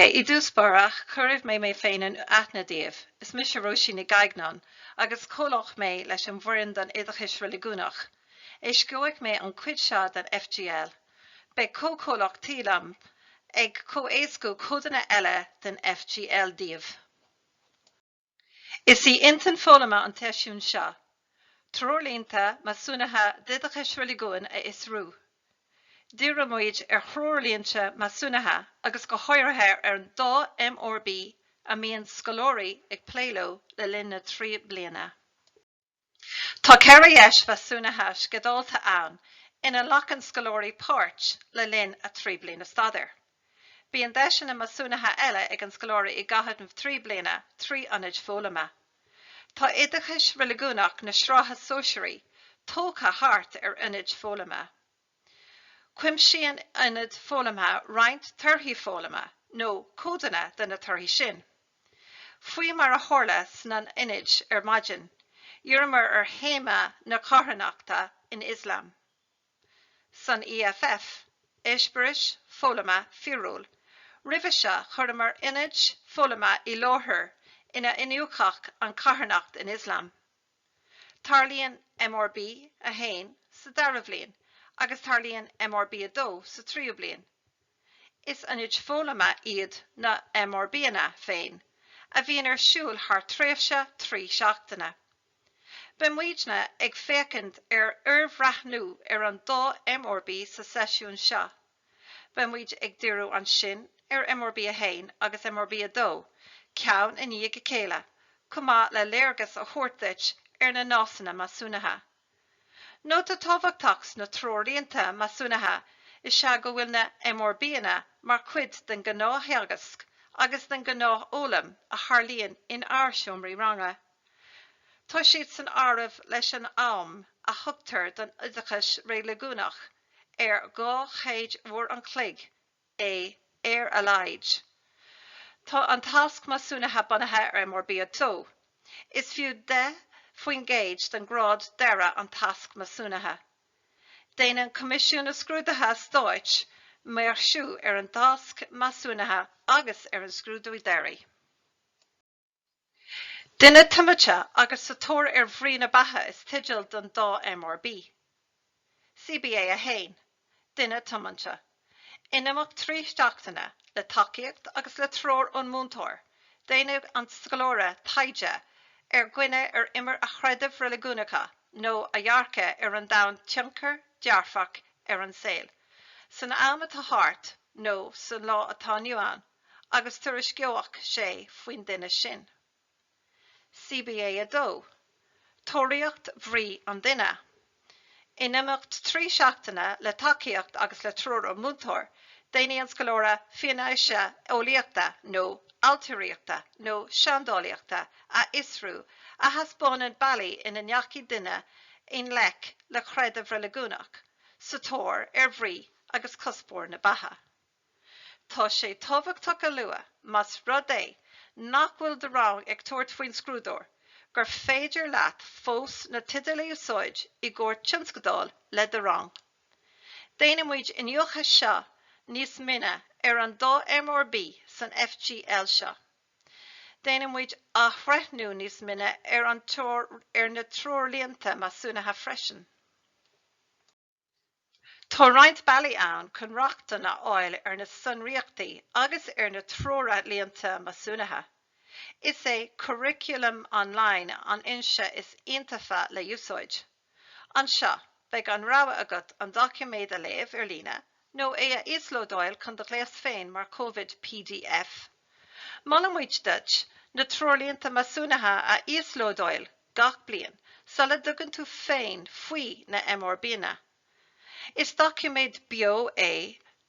I dtús báire, cuirfidh mé mé féin in aithne daoibh. Is mise Róisín Nic Gaibhneáin, agus comhlach mé leis an bhfoireann don Oideachas Reiligiúnach. Éascóidh mé an chuid seo den FGL. Beidh comhchomhlach de liom ag comh-éascú codanna eile den FGL daoibh. Is í intinn foghlama an tseisiúin seo treoirlínte measúnaithe d'oideachas reiligiúin a fhiosrú. Díreoimid ar threoirlínte measúnaithe agus go háirithe ar an dá MRB a mbíonn scoláirí ag plé leo le linn na dtrí bliana. Tá ceithre dheis mheasúnaithe sceidealta ann ina nglacann scoláirí páirt le linn a trí bliana staidéir. Bíonn deiseanna measúnaithe eile ag an scoláire i gcaitheamh na dtrí bliana trí ionaid foghlama. Tá Oideachas Reiligiúnach na Sraithe Sóisearaí tógtha thart ar ionaid foghlama. Cuimsíonn Ionad Foghlama roinnt torthaí foghlama, nó codanna de na torthaí sin. Faoi mar a tharla sna n-ionaid ar maidin, dhíríomar ar théama na carthanachta san Ioslam. San EFF, Eispéiris Foghlama Fíorúil, roimhe seo chuireamar ionaid foghlama i láthair inar iniúchadh an carthanacht in Ioslam. Tarlaíonn MRB 1 sa dara bhliain agus tarlaíonn MRB 2 sa tríú bliain. Is ionaid foghlama iad na MRBanna féin a bhíonn ar siúl thar tréimhse trí seachtaine. Beidh muidne ag féachaint ar fhorbhreathnú ar an dá MRB sa seisiún seo. Beidh muid ag díriú ansin ar MRB 1 agus MRB 2 ceann i ndiaidh a chéile chomh maith le léargas a thabhairt duit ar na Nósanna Measúnaithe. Nóta tábhachtach sna Treoirlínte Measúnaithe is ea go bhfuil na MRBanna mar chuid den ghnáththeagasc agus den ghnáthfhoghlaim a tharlaíonn in ár seomraí ranga. Tá siad san áireamh leis an am a thugtar don Oideachas Reiligiúnach ar dhá chéad uair an chloig é ar a laghad. Tá an tasc measúnaithe bunaithe ar MRB 2. Is fiú 10 faoin gcéad den ghrád deiridh an tasc measúnaithe. Déanann Coimisiún na Scrúduithe Stáit maoirsiú ar an tasc measúnaithe agus ar an scrúdú deiridh. Duine tiomanta agus sa tóir ar bhrí na beatha is teideal don dá MRB. CBA a 1. Duine tiomanta. In imeacht trí seachtaine, le tacaíocht agus le treoir ón múinteoir, déanfaidh an scoláire taighde ar dhuine ar imir a chreideamh reiligiúnacha nó a dhearcadh ar an domhan tionchar dearfach ar an saol san am atá thart nó san lá atá inniu ann. agus tuairisceoidh sé faoin duine sin. CBA a 2, Tóraíocht bhrí an duine. In imeacht trí seachtaine le tacaíocht agus le treoir ón múinteoir, déanfaidh an scoláire fianaise eolaíochta nó ailtiríochta nó seandálaíochta a fhiosrú a thaispeánann bealaí ina ndeachaigh daoine i ngleic le creideamh reiligiúnach, sa tóir ar bhrí agus cuspóir na beatha. Tá sé tábhachtach a lua, más rud é nach bhfuil do rang ag tabhairt faoin scrúdú, gur féidir leat fós na teidil a úsáid i gcomhair tionscadail le do rang. Déanfaimid iniúchadh níos mine ar an dá MRB san FGL seo. Déanfaimid athbhreithniú níos mine ar na treoirlínte measúnaithe freisin. Tá roinnt bealaí ann chun rochtain a fháil ar na sonraíochtaí agus ar na treoirlínte measúnaithe. Is é Curriculum Online an fhoinse is iontaofa le húsáid. Anseo, beidh an rogha agat an doiciméad a léamh ar líne nó é a íoslódáil chun do ghléas féin mar chomhad pdf. Molaimid duit na treoirlínte measúnaithe a íoslódáil gach bliain sula dtugann tú féin faoi na MRBanna. Is doiciméad beo é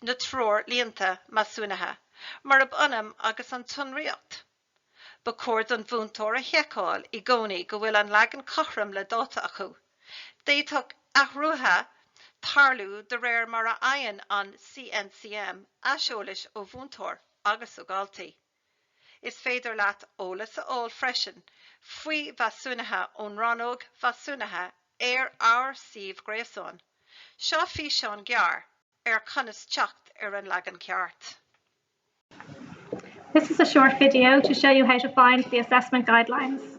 na treoirlínte measúnaithe murab ionann agus an tsonraíocht. Ba chóir don mhúinteoir a sheiceáil i gcónaí go bhfuil an leagan cothrom le dáta acu. D'fhéadfadh athruithe tarlú de réir mar a fhaigheann an CNCM aiseolas ó mhúinteoirí agus ó dhaltaí. Is féidir leat eolas a fháil freisin faoi mheasúnuithe ón rannóg mheasúnaithe ar ár suíomh gréasáin. Seo físeán gearr ar conas teacht ar an leagan ceart. This is a short video to show you how to find the assessment guidelines.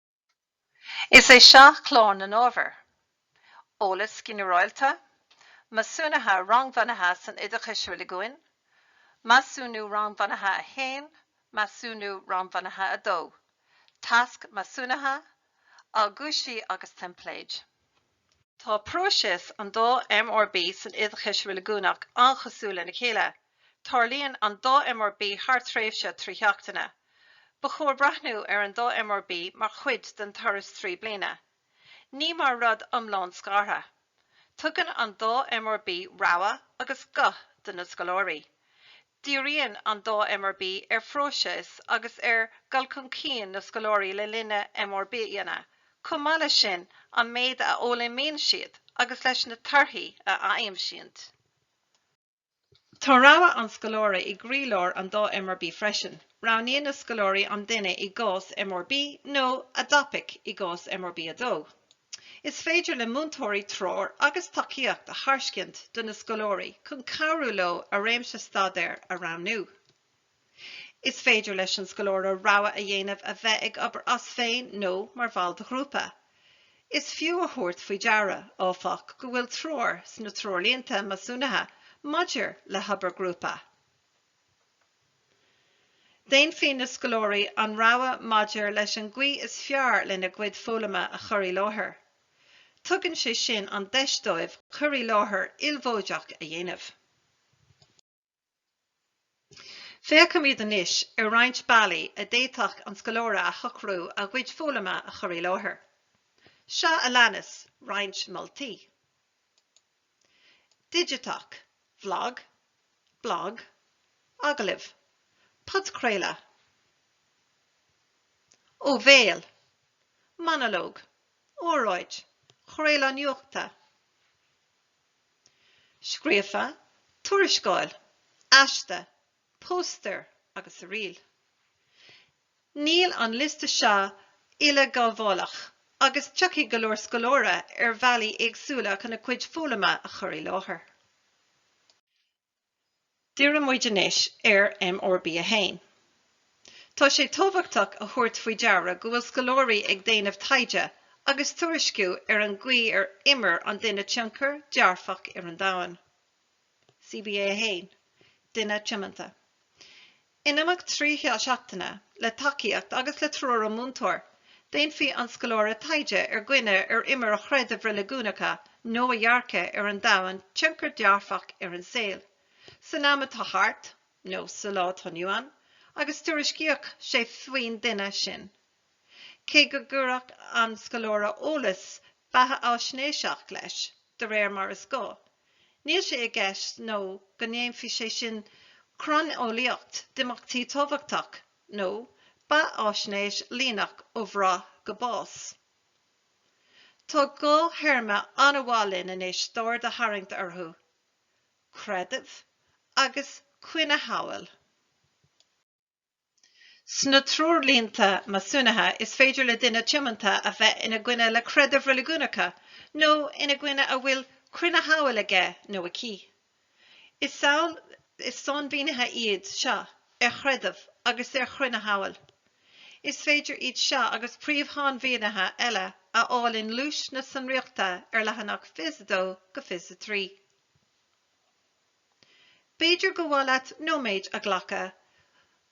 Is é seo clár na n-ábhar, Eolas Ginearálta, Measúnuithe Rangbhunaithe san Oideachas Reiligiúnach, Measúnú Rangbhunaithe a 1, Measúnú Rangbhunaithe a 2, Tasc Measúnaithe, Aguisíní agus Teimpléid. Tá próiseas an dá MRB san Oideachas Reiligiúnach an-chosúil lena chéile. Tarlaíonn an dá MRB thar tréimhse trí sheachtaine. Ba chóir breathnú ar an dá MRB mar chuid den turas trí bliana. Ní mar rud iomlán scartha. Tugann an dá MRB rogha agus guth do na scoláirí. Díríonn an dá MRB ar phróiseas agus ar dhul chun cinn na scoláirí le linn na MRBanna, chomh maith leis sin, an méid a fhoghlaímíonn siad agus leis na torthaí a fhaigheann siad. Tá rogha an scoláire i gcroílár an dá MRB freisin. Roghnaíonn na scoláirí an duine i gcás MRB nó a dtopaic i gcás MRB 2. Is féidir le múinteoirí treoir agus tacaíocht a thairscint do na scoláirí chun cabhrú leo a réimse staidéir a roghnú. Is féidir leis an scoláire rogha a dhéanamh a bheith ag obair as féin nó mar bhall de ghrúpa. Is fiú a thabhairt faoi deara, áfach, go bhfuil treoir sna Treoirlínte Measúnaithe maidir le hObair Ghrúpa. Déanfaidh na scoláirí an rogha maidir leis an gcaoi is fearr lena gcuid foghlama a chur i láthair. Tugann sé sin an deis dóibh cur i láthair ilmhóideach a dhéanamh. Féachfaimid anois ar roinnt bealaí a d'fhéadfadh an scoláire a shocrú a gcuid foghlama a chur i láthair. Seo a leanas roinnt moltaí. Digiteach, vlag, blag, agallamh, podchraoladh, ó bhéal, monalóg, óráid, craoladh nuachta, scríofa, tuarascáil, aiste, póstaer agus uiríll. Níl an liosta seo uileghabhálach agus tiocfaidh go leor scoláire ar bhealaí éagsúla chun a gcuid foghlama a chur i láthair. Díreoidh muid anois ar MRB 1. Tá sé tábhachtach a thabhairt faoi deara go bhfuil scoláirí ag déanamh taighde agus tuairisciú ar an gcaoi ar imir an duine tionchar dearfach ar an domhan. CBA 1. Duine tiomanta. In imeacht trí sheachtaine, le tacaíocht agus le treoir ón múinteoir, déanfaidh an scoláire taighde ar dhuine ar imir a chreidimh reiligiúnacha nó a dhearcadh ar an domhan tionchar dearfach ar an saol san am atá thart nó sa lá atá inniu ann agus tuairisceoidh sé faoin duine sin. cé go gcuirfeadh an scoláire eolas beathaisnéiseach leis, de réir mar is gá. Níl sé i gceist nó go ndéanfaidh sé sin cróineolaíocht d'imeachtaí tábhachtach nó beathaisnéis líneach ó bhreith go bás. Tá dhá théarma ar mhaith linn anois d'aird a tharraingt orthu, creideamh agus cruinneshamhail. Sna treoirlínte measúnaithe is féidir le duine tiomanta a bheith ina gcoinne le creideamh reiligiúnacha nó ina gcoinne a bhfuil cruinneshamhail aige nó aici. Is amhail is sainmhínithe iad seo ar chreideamh agus ar chruinneshamhail. Is féidir iad seo agus príomh-shainmhínithe eile a fháil i ngluais na Sonraíochta ar leathanach 22 go 23. B'fhéidir gur mhaith leat nóiméad a ghlacadh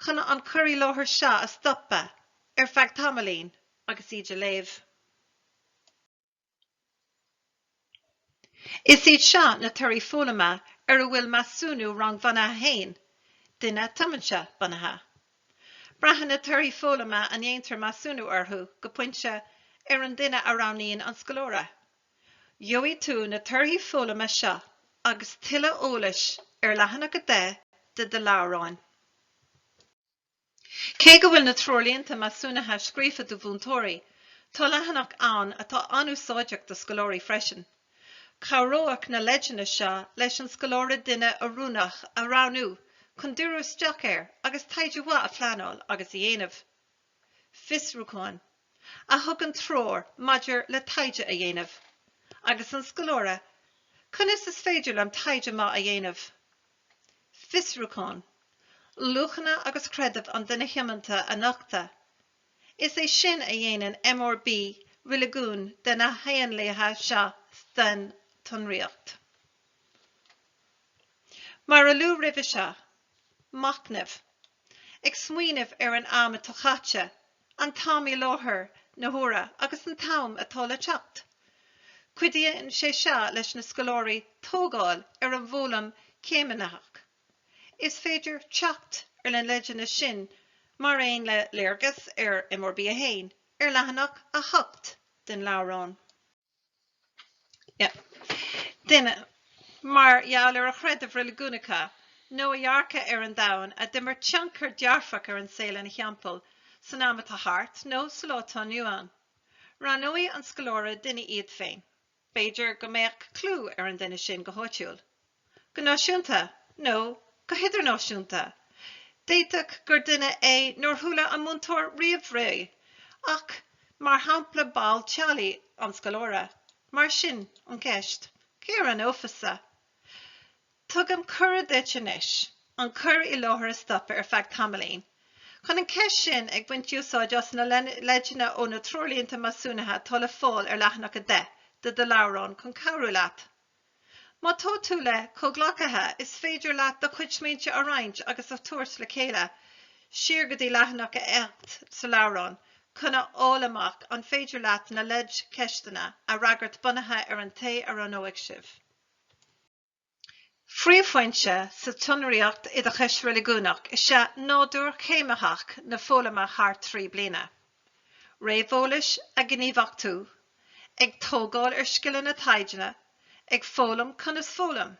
chun an cur i láthair seo a stopadh ar feadh tamaillín agus iad a léamh. Is iad seo na torthaí foghlama ar a bhfuil Measúnú Rangbhunaithe 1, Duine Tiomanta, bunaithe. Braitheann na torthaí foghlama a ndéantar measúnú orthu, go pointe, ar an duine a roghnaíonn an scoláire. Gheobhaidh tú na torthaí foghlama seo agus tuilleadh eolais ar leathanach 10 de do leabhrán. Cé go bhfuil na Treoirlínte Measúnaithe scríofa do mhúinteoirí, tá leathanach ann atá an-úsáideach do scoláirí freisin. Cabhróidh na leideanna seo leis an scoláire duine oiriúnach a roghnú chun díriú isteach air agus taighde maith a phleanáil agus a dhéanamh. fiosrúcháin a thugann treoir maidir le taighde a dhéanamh, agus an scoláire, conas is féidir liom taighde maith a dhéanamh? fiosrúchán, luachanna agus creideamh an duine thiomanta a nochtadh. Is é sin a dhéanann MRB éirigiúil de na haonaid seo den tsonraíocht. Mar a luadh roimhe seo, Machnamh. Ag smaoineamh ar an am atá caite, an t-am i láthair na huaire agus an t-am atá le teacht. Cuidíonn sé seo leis na scoláirí tógáil ar an bhfoghlaim céimnitheach. Is féidir teacht ar na leideanna sin mar aon le léargas ar MRB 1 ar leathanach 8 den leabhrán. Duine, mar gheall ar a chreideamh reiligiúnach nó a dhearcadh ar an domhan, a d'imir tionchar dearfach ar an saol ina thimpeall san am atá thart nó sa lá atá inniu ann. Roghnóidh an scoláire duine iad féin. B'fhéidir go mbeadh clú ar an duine sin go háitiúil. go náisiúnta nó go hidirnáisiúnta. D'fhéadfadh gur duine é nár chuala an múinteoir riamh faoi ach mar shampla ball teaghlaigh an scoláire. Mar sin an cheist, cé a roghnófasa? Tugaim cuireadh duit anois an cur i láthair a stopadh ar feadh tamaillín chun an cheist sin, ag baint úsáid as na leideanna ó na Treoirlínte Measúnaithe atá le fáil ar leathanach 10 de do leabhrán chun cabhrú leat. Má tá tú le comhghleacaithe, is féidir leat do chuid smaointe a roinnt agus a thabhairt le chéile, siar go dtí leathanach a ocht sa leabhrán, chun a fháil amach an féidir leat na leidcheisteanna a fhreagairt bunaithe ar an té a roghnóidh sibh. Príomhphointe sa tsonraíocht oideachais reiligiúnach is ea nádúr céimnitheach na foghlama thar trí bliana. réamheolas a ghníomhachtú, ag tógáil ar scileanna taighde, ag foghlaim conas foghlaim.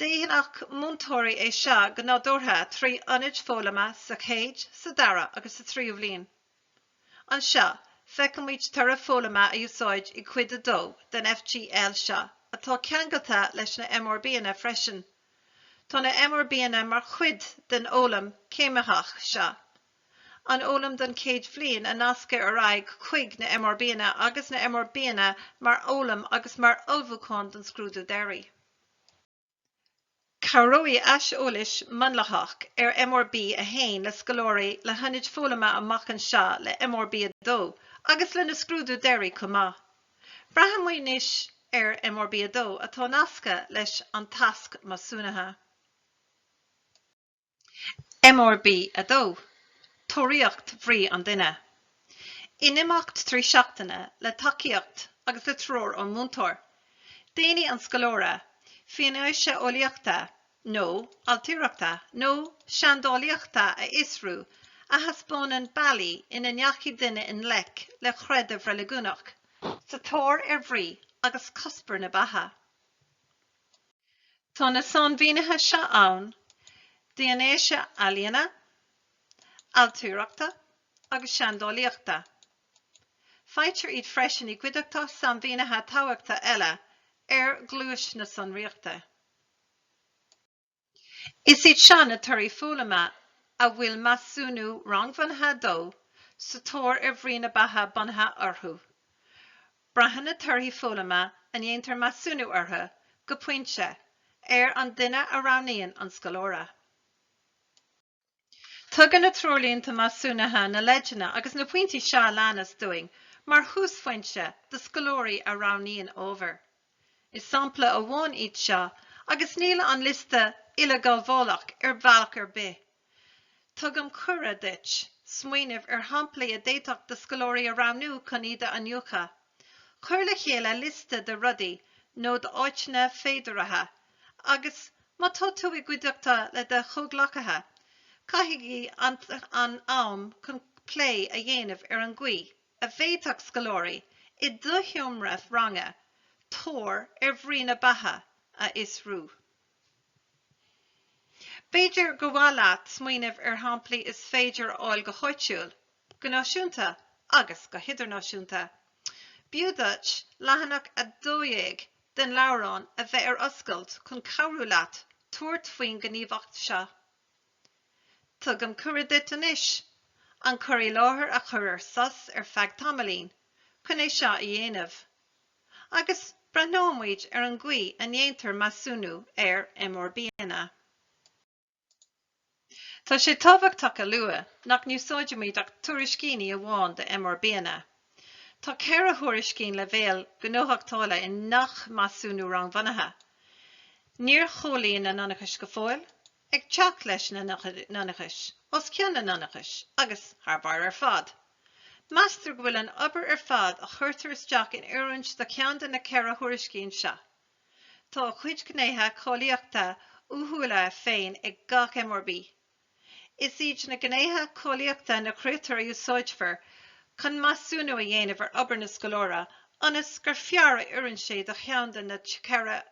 Dhéanfadh múinteoirí é seo go nádúrtha trí ionaid foghlama sa chéad, sa dara agus sa tríú bhliain. Anseo, feicimid toradh foghlama a úsáideadh i gcuid a dó den FGL seo atá ceangailte leis na MRBanna freisin. Tá na MRBanna mar chuid den fhoghlaim chéimnitheach seo. an fhoghlaim den chéad bhliain a nascadh ar aghaidh chuig na MRBanna agus na MRBanna mar fhoghlaim agus mar ullmhúchán don scrúdú deiridh. Cabhróidh aiseolas múnlaitheach ar MRB 1 le scoláirí le hionaid foghlama amach anseo le MRB 2 agus lena scrúdú deiridh chomh maith. Breathnóimid anois ar MRB 2 atá nasctha leis an Tasc Measúnaithe. MRB 2, Tóraíocht Bhrí an Duine. In imeacht trí seachtaine le tacaíocht agus le treoir ón múinteoir, déanfaidh an scoláire fianaise ealaíonta nó ailtireachta nó seandálaíochta a fhiosrú a thaispeánann bealaí ina ndeachaigh duine i ngleic le creideamh reiligiúnach sa tóir ar bhrí agus cuspóir na beatha. Tá na sainmhínithe seo ann d'fhianaise ealaíona, ailtireachta agus seandálaíochta. Faightear iad freisin i gcuideachta sainmhínithe tábhachtacha eile ar ghluais na sonraíochta. Is iad seo na torthaí foghlama a bhfuil Measúnú Rangbhunaithe 2, Sa Tóir ar Bhrí na Beatha bunaithe orthu. Braitheann na torthaí foghlama a ndéantar measúnú orthu, go pointe, ar an duine a roghnaíonn an scoláire. Tugann na Treoirlínte Measúnaithe na leideanna agus na pointí seo a leanas dúinn mar thúsphointe do scoláirí a roghnaíonn ábhar. Is sampla amháin iad seo agus níl an liosta uileghabhálach ar bhealach ar bith. Tugaim cuireadh duit smaoineamh ar shamplaí a d'fhéadfadh do scoláirí a roghnú chun iad a iniúchadh. Cuir le chéile liosta de rudaí nó d'áiteanna féideartha agus, má tá tú i gcuideachta le do chomhghleacaithe, caithigí an am chun plé a dhéanamh ar an gcaoi a bhféadfadh scoláirí i do sheomra ranga tóir ar bhrí na beatha a fhiosrú. B'fhéidir gur mhaith leat smaoineamh ar shamplaí is féidir a fháil go háitiúil, go náisiúnta agus go hidirnáisiúnta. B'fhiú duit leathanach 12 den leabhrán a bheith ar oscailt chun cabhrú leat tabhairt faoin ghníomhaíocht seo. Tugaim cuireadh duit anois an cur i láthair a chur ar sos ar feadh tamaillín chun é seo a dhéanamh. agus breithneoimid ar an gcaoi a ndéantar measúnú ar MRBanna. Tá sé tábhachtach a lua nach n-úsáidimid ach tuairiscíní amháin de MRBanna. Tá ceithre thuairiscín leibhéal gnóthachtála i ngach measúnú rangbhunaithe. Níor chomhlíon na hionchais go fóill, ag teacht leis na n-ionchais os cionn na n-ionchais agus thar barr ar fad. Meastar go bhfuil an obair ar fad a chuirtear isteach in oiriúint do cheann de na ceithre thuairiscín seo. Tá a chuid gnéithe cáilíochta uathúla féin ag gach MRB. Is iad na gnéithe cáilíochta na critéir a úsáidfear chun measúnú a dhéanamh ar obair na scoláire ionas gur fearr a oireann sé do cheann de na ceithre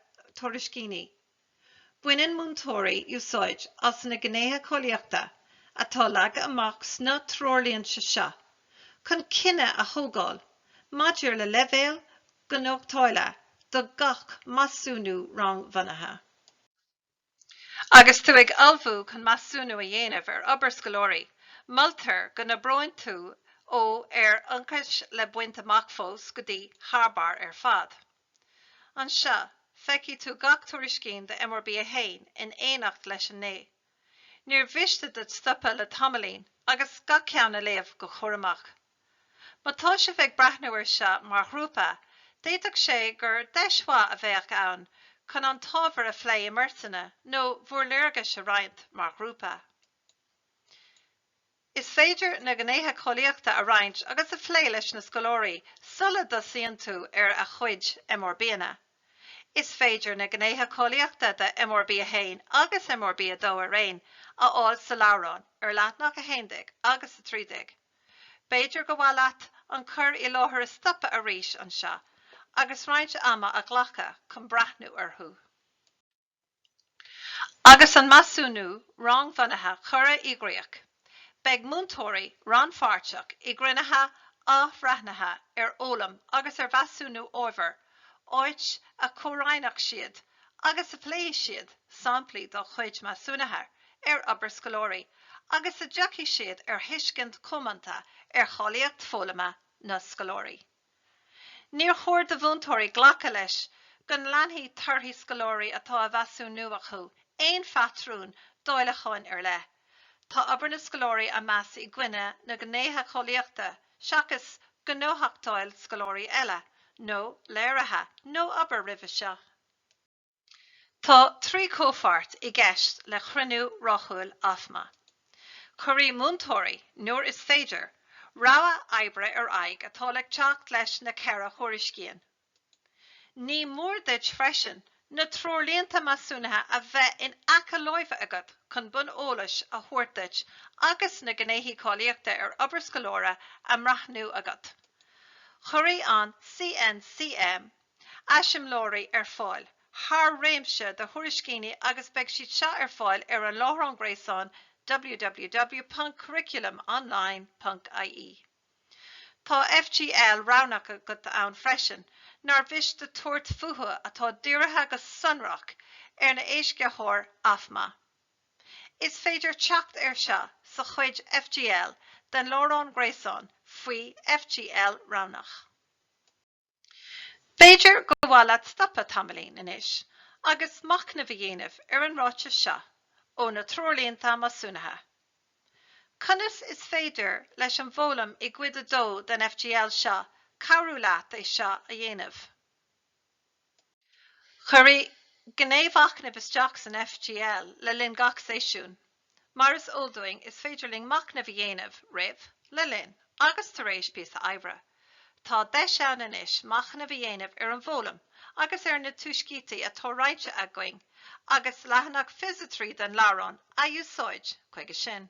tuairiscíní. Baineann múinteoirí úsáid as na Gnéithe Cáilíochta atá leagtha amach sna Treoirlínte seo chun cinneadh a thógáil maidir le leibhéal gnóthachtála do gach Measúnú Rangbhunaithe. Agus tú ag ullmhú chun measúnú a dhéanamh ar obair scoláirí, moltar go n-oibríonn tú ó ar ionchais le baint amach fós go dtí thar barr ar fad. Anseo, feicfidh tú gach tuairiscín de MRB 1 in éineacht leis an ngné. Níor mhiste duit stopadh le tamaillín agus gach ceann a léamh go cúramach. Má tá sibh ag breathnú ar seo mar ghrúpa, d'fhéadfadh sé gur deis mhaith a bheadh ann chun an t-ábhar a phlé i mbeirteanna nó bhúr léargais a roinnt mar ghrúpa. Is féidir na gnéithe cáilíochta a roinnt agus a phlé leis na scoláirí sula dtosaíonn tú ar a gcuid MRBanna. Is féidir na gnéithe cáilíochta de MRB 1 agus MRB 2 araon a fháil sa leabhrán ar leathnach 11 agus 13. B'fhéidir gur mhaith leat an cur i láthair a stopadh arís anseo agus roinnt ama a ghlacadh chun breathnú orthu. Agus an measúnú rangbhunaithe curtha i gcríoch, beidh múinteoirí rannpháirteach i gcruinnithe athbhreithnithe ar fhoghlaim agus ar mheasúnú ábhair, áit a chomhroinnfidh siad agus a phléifidh siad samplaí dá gcuid measúnuithe ar obair scoláirí agus a dtiocfaidh siad ar thuiscint chomónta ar cháilíocht foghlama na scoláirí. Níor chóir do mhúinteoirí glacadh leis go n-leanfaidh torthaí scoláirí atá á measúnú acu aon phatrún dáileacháin ar leith. Tá obair na scoláirí á meas i gcoinne na ngnéithe cáilíochta seachas gnóthachtáil scoláirí eile, nó léirithe, nó obair roimhe seo. Tá trí chomhpháirt i gceist le cruinniú rathúil AFMA. Cuirfidh múinteoirí, nuair is féidir, rogha oibre ar aghaidh atá ag teacht leis na ceithre thuairiscín. Ní mór duit freisin na treoirlínte measúnaithe a bheith in aice láimhe agat chun bonn eolais a thabhairt duit agus na gnéithe cáilíochta ar obair scoláire á mbreathnú agat. Cuirfidh an CNCM eiseamláirí ar fáil thar réimse de thuairiscíní agus beidh siad seo ar fáil ar an láithreán gréasáin www.curriculumonline.ie. Tá FGL roghnach againn ann freisin nár mhiste tabhairt fúthu atá dírithe go sonrach ar an éascaitheoir AFMA. Is féidir teacht ar seo sa chuid FGL den láithreán gréasáin faoi FGL roghnach. B'fhéidir gur mhaith leat stopadh tamaillín anois agus machnamh a dhéanamh ar an ráiteas seo ó na Treoirlínte Measúnaithe. Conas is féidir leis an bhfoghlaim i gCuid 2 den FGL seo cabhrú leat é seo a dhéanamh? Cuireadh gné mhachnaimh isteach san FGL le linn gach seisiún. Mar is eol dúinn, is féidir linn machnamh a dhéanamh, roimh, le linn agus tar éis píosa oibre. Tá deis ann anois machnamh a dhéanamh ar an bhfoghlaim agus ar na tuiscintí atá roinnte againn agus leathanach fiche a trí den leabhrán a úsáid chuige sin.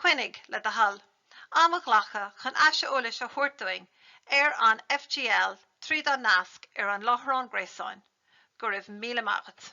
Cuimhnigh, le do thoil, am a ghlacadh chun aiseolas a thabhairt dúinn ar an FGL tríd an nasc ar an láithreán gréasáin. Go raibh míle maith agat.